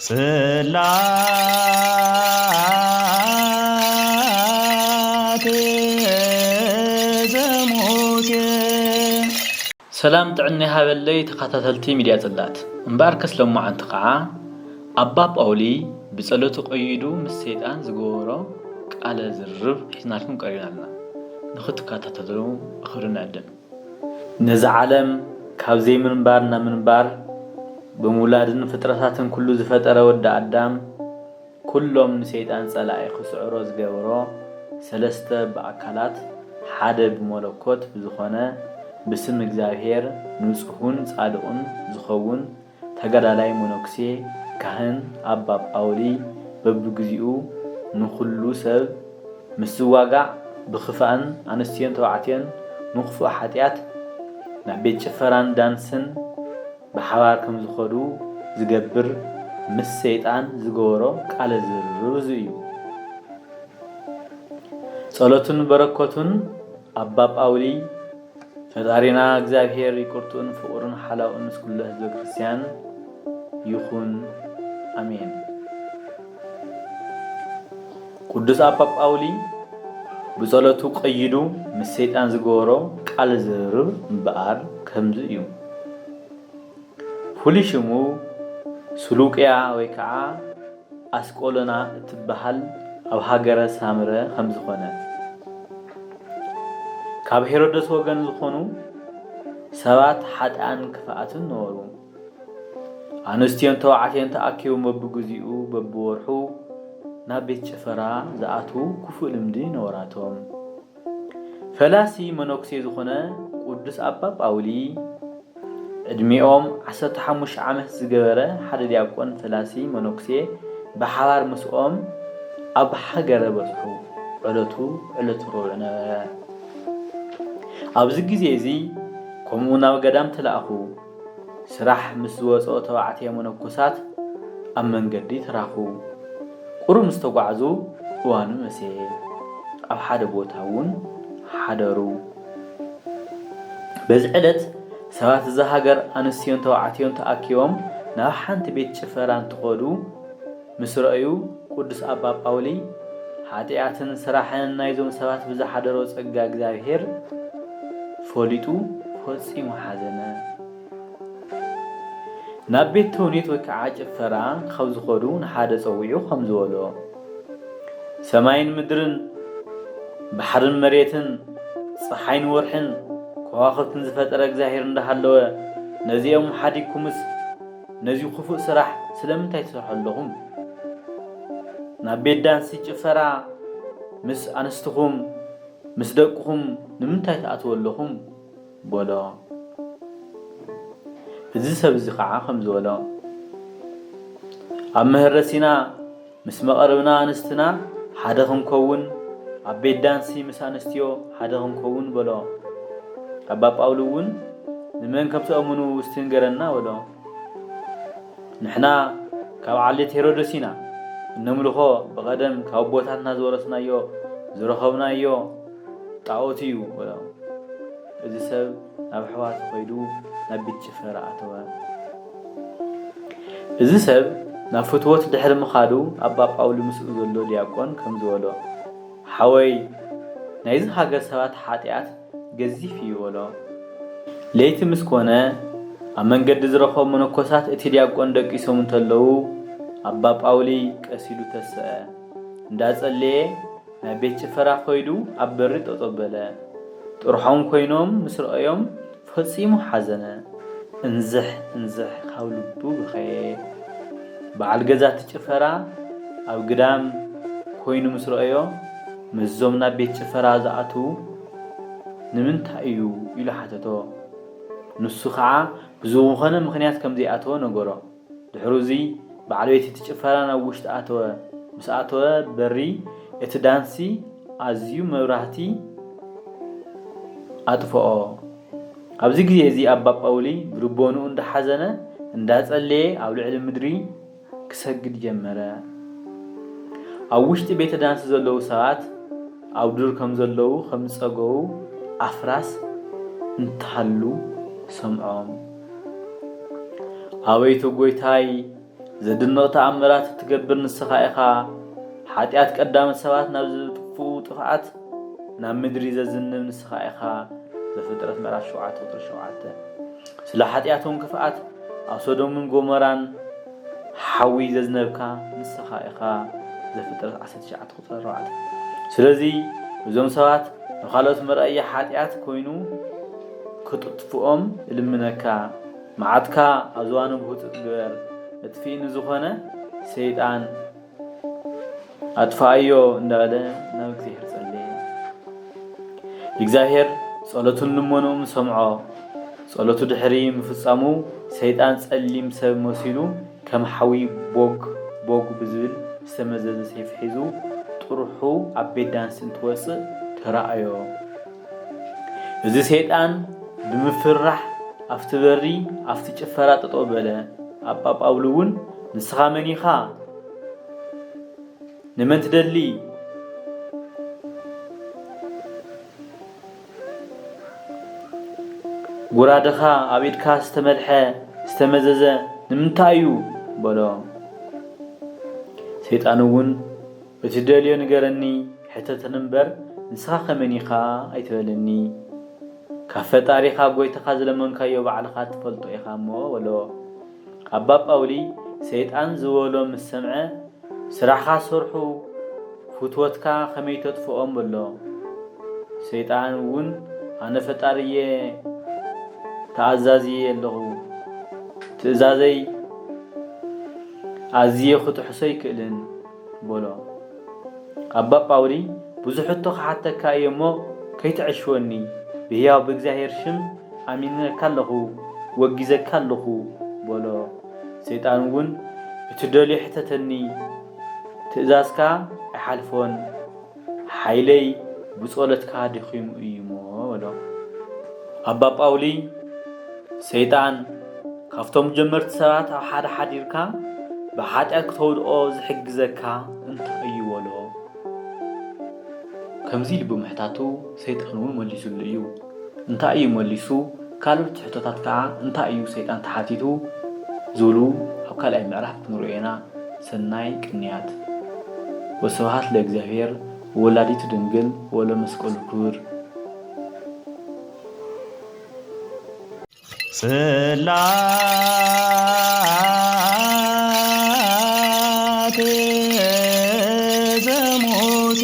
ጽላተ ዘሙሴ ሰላም ጥዕና ይሃበለይ ተኻታተልቲ ሚድያ ጽላት እምበኣርከስ ሎማዓንቲ ካዓ ኣባ ጳውሊ ብጸሎቱ ቀይዱ ምስ ሰይጣን ዝገበሮ ቃለ ዝርርብ ሒዝናልኩም ቀሪብና ኣለና ንኽትካታተሉ ብኽብሪ ንዕድም። ነዚ ዓለም ካብ ዘይምንባር ናብ ምንባር ብምውላድን ፍጥረታትን ኩሉ ዝፈጠረ ወዲ ኣዳም ኩሎም ንሰይጣን ጸላኢ ክስዕሮ ዝገበሮ ሰለስተ ብኣካላት ሓደ ብመለኮት ብዝኾነ ብስም እግዚኣብሔር ንጹሁን ጻድቁን ዝኸውን ተጋዳላይ መነኩሴ ካህን ኣባ ጳውሊ በብግዚኡ ንኹሉ ሰብ ምስ ዝዋጋእ ብኽፋእን ኣንስትዮን ተባዕትዮን ንኽፉእ ሓጢኣት ናብ ቤት ጭፈራን ዳንስን ብሓባር ከምዝኸዱ ዝገብር ምስ ሰይጣን ዝገበሮ ቃለ ዝርርብ እዙይ እዩ። ጸሎቱን በረከቱን ኣባ ጳውሊ ፈጣሪና እግዚኣብሔር ይቅርቱኡን ፍቅሩን ሓላውን ምስ ኩሉ ህዝበ ክርስትያን ይኩን ኣሜን። ቅዱስ ኣባ ጳውሊ ብጸሎቱ ቀይዱ ምስ ሰይጣን ዝገበሮ ቃል ዝርርብ እምበኣር ከምዚ እዩ። ፍሉይ ሽሙ ስሉቅያ ወይ ከዓ ኣስቆሎና እትበሃል ኣብ ሃገረ ሳምረ ከም ዝኾነ፣ ካብ ሄሮደስ ወገን ዝኾኑ ሰባት ሓጥኣን ክፍኣትን ነበሩ። ኣንስትዮን ተባዕትዮን ተኣኪቦም በብግዚኡ በብወርሑ ናብ ቤት ጭፈራ ዝኣትዉ ክፉእ ልምዲ ነበራቶም። ፈላሲ መነኩሴ ዝኾነ ቅዱስ ኣባ ጳውሊ ዕድሜኦም ዓሰርተ ሓሙሽተ ዓመት ዝገበረ ሓደ ዲያቆን ፈላሲ መነኩሴ ብሓባር ምስኦም ኣብ ሃገረ በጽሑ። ዕለቱ ዕለተ ሮብዕ ነበረ። ኣብዚ ግዜ እዚ ከምኡ ናብ ገዳም ተላእኩ። ስራሕ ምስ ዝወጽኦ ተባዕትዮ መነኮሳት ኣብ መንገዲ ተራኹ። ቁሩብ ምስ ተጓዕዙ እዋኑ መሰየ። ኣብ ሓደ ቦታ እውን ሓደሩ። በዚ ዕለት ሰባት እዛ ሃገር ኣንስትዮን ተባዕትዮን ተኣኪቦም ናብ ሓንቲ ቤት ጭፈራ እንትኸዱ፣ ምስ ረኣዩ ቅዱስ ኣባ ጳውሊ ሓጥያትን ስራሕን ናይዞም ሰባት ብዝሓደሮ ጸጋ እግዚኣብሔር ፈሊጡ ፈጺሙ ሓዘነ። ናብ ቤት ተውኔት ወይ ከዓ ጭፈራ ካብ ዝኸዱ ንሓደ ጸዊዑ ከም ዝበሎ ሰማይን ምድርን ባሕርን መሬትን ጸሓይን ወርሕን ከዋኽብትን ዝፈጠረ እግዚኣብሔር እንዳሃለወ ነዚኦም ሓዲግኩምስ ነዚ ኩፉእ ስራሕ ስለምንታይ ትሰርሑ ኣለኹም ናብ ቤት ዳንሲ ጭፈራ ምስ ኣንስትኹም ምስ ደቅኹም ንምንታይ ትኣትዉ ኣለኹም በሎ እዚ ሰብ እዚ ኸዓ ከምዚ በሎ ኣብ መሀረሲና ምስ መቐርብና ኣንስትና ሓደ ክንከውን ኣብ ቤት ዳንሲ ምስ ኣንስትዮ ሓደ ክንከውን በሎ። ኣባ ጳውሊ እውን ንመን ከም ትእምኑ ውስቲ ንገረና በሎ። ንሕና ካብ ዓሌት ሄሮደስ ኢና፣ እነምልኾ ብቐደም ካብ ኣቦታትና ዝወረስናዮ ዝረኸብናዮ ጣኦት እዩ በሎ። እዚ ሰብ ናብ ኣሕዋቱ ከይዱ ናብ ቤት ጭፈራ ኣተወ። እዚ ሰብ ናብ ፍትወት ድሕሪ ምኻዱ ኣባ ጳውሊ ምስኡ ዘሎ ዲያቆን ከምዚ በሎ፣ ሓወይ ናይዚ ሃገር ሰባት ሓጢኣት ገዚፍ እዩ በሎ። ለይቲ ምስ ኮነ ኣብ መንገዲ ዝረኸቦም መነኮሳት እቲ ዲያቆን ደቂሶም እንተለዉ ኣባ ጳውሊ ቀስ ኢሉ ተሰኣ። እንዳጸለየ ናብ ቤት ጭፈራ ከይዱ ኣብ በሪ ጠጠው በለ። ጥርሖም ኮይኖም ምስ ረኣዮም ፈጺሙ ሓዘነ። እንዝሕ እንዝሕ ካብ ልቡ በኸየ። በዓል ገዛ እቲ ጭፈራ ኣብ ግዳም ኮይኑ ምስ ረኣዮ ምስዞም ናብ ቤት ጭፈራ ዝኣትዉ ንምንታይ እዩ ኢሉ ሓተቶ። ንሱ ከዓ ብዝኾነ ምኽንያት ከምዘይኣተወ ነገሮ። ድሕሩ እዚ በዓል ቤት እቲ ጭፈራ ናብ ውሽጢ ኣተወ። ምስ ኣተወ በሪ እቲ ዳንሲ ኣዝዩ መብራህቲ ኣጥፍኦ። ኣብዚ ግዜ እዚ ኣባ ጳውሊ ብልቦንኡ እንዳሓዘነ እንዳጸለየ ኣብ ልዕሊ ምድሪ ክሰግድ ጀመረ። ኣብ ውሽጢ ቤተ ዳንሲ ዘለዉ ሰባት ኣብ ዱር ከም ዘለዉ ከም ዝጸገዉ ኣፍራስ እንተሃሉ ሰምዖም። ኣበይቶ ጎይታይ ዘድንቕ ተኣምራት እትገብር ንስኻ ኢኻ፣ ሓጢኣት ቀዳሞት ሰባት ናብ ዝጥፍኡ ጥፍኣት ናብ ምድሪ ዘዝንብ ንስኻ ኢኻ። ዘፍጥረት ምዕራፍ 7 ቁፅሪ 7 ስለ ሓጢኣቶም ክፍኣት ኣብ ሶዶምን ጎመራን ሓዊ ዘዝነብካ ንስኻ ኢኻ። ዘፍጥረት 19 ቁፅሪ 4 ስለዚ እዞም ሰባት ንካልኦት መርኣያ ሓጢኣት ኮይኑ ክጥጥፍኦም እልምነካ ማዓትካ ኣብ ዝባኖም ህውጽጽ ግበር መጥፊኢ ንዝኮነ ሰይጣን ኣጥፋኣዮ እንዳበለ ናብ እግዚኣሄር ጸለየ እግዚኣብሄር ጸሎቱን ልመንኡም ሰምዖ ጸሎቱ ድሕሪ ምፍጻሙ ሰይጣን ጸሊም ሰብ መሲሉ ከም ሓዊ ቦግ ቦግ ብዝብል ዝተመዘዘ ሰይፊ ሒዙ ጥርሑ ኣብ ቤት ዳንስ እንትወጽእ ተራኣዮ። እዚ ሰይጣን ብምፍርራሕ ኣብቲ በሪ ኣብቲ ጭፈራ ጠጠው በለ። ኣባ ጳውሊ እውን ንስኻ መን ኢኻ? ንመን ትደሊ? ጉራደኻ ኣብ ኢድካ ዝተመልሐ ዝተመዘዘ ንምንታይ እዩ? በሎ። ሰይጣን እውን እትደልዮ ንገረኒ ሕተተኒ እምበር ንስኻ ከመን ኢኻ ኣይትበለኒ ካብ ፈጣሪ ካብ ጎይታኻ ዝለመንካዮ ባዕልኻ ትፈልጦ ኢኻ እሞ በሎ ኣባ ጳውሊ ሰይጣን ዝበሎ ምስ ሰምዐ ስራሕኻ ሰርሑ ፍትወትካ ከመይ ተጥፍኦም በሎ ሰይጣን እውን ኣነ ፈጣሪ እየ ተኣዛዚ እየ ኣለኹ ትእዛዘይ ኣዝየ ክጥሕሶ ኣይክእልን በሎ። ኣባ ጳውሊ ብዙሕ ሕቶ ክሓተካ እየ እሞ ከይትዐሽወኒ፣ ብሕያው ብእግዚኣብሔር ሽም ኣሚነካ ኣለኹ፣ ወጊዘካ ኣለኹ፣ በሎ። ሰይጣን እውን እትደልዮ ሕተተኒ፣ ትእዛዝካ ኣይሓልፎን፣ ሓይለይ ብጸሎትካ ደኺሙ እዩሞ በሎ። ኣባ ጳውሊ ሰይጣን ካብቶም ጀመርቲ ሰባት ኣብ ሓደ ሓዲርካ ብሓጢኣት ክተውድኦ ዝሕግዘካ እንታይ እዩ በሎ። ከምዚ ኢሉ ብምሕታቱ ሰይጣን እውን መሊሱሉ እዩ። እንታይ እዩ መሊሱ ካልኦት ሕቶታት ከኣ እንታይ እዩ ሰይጣን ተሓቲቱ ዝብሉ ኣብ ካልኣይ ምዕራፍ ክንሪኦ ኢና ሰናይ ቅንያት ወስብሃት ለእግዚኣብሔር ወወላዲቱ ድንግል ወለመስቀሉ ክብር ጽላቴ ዘሙሴ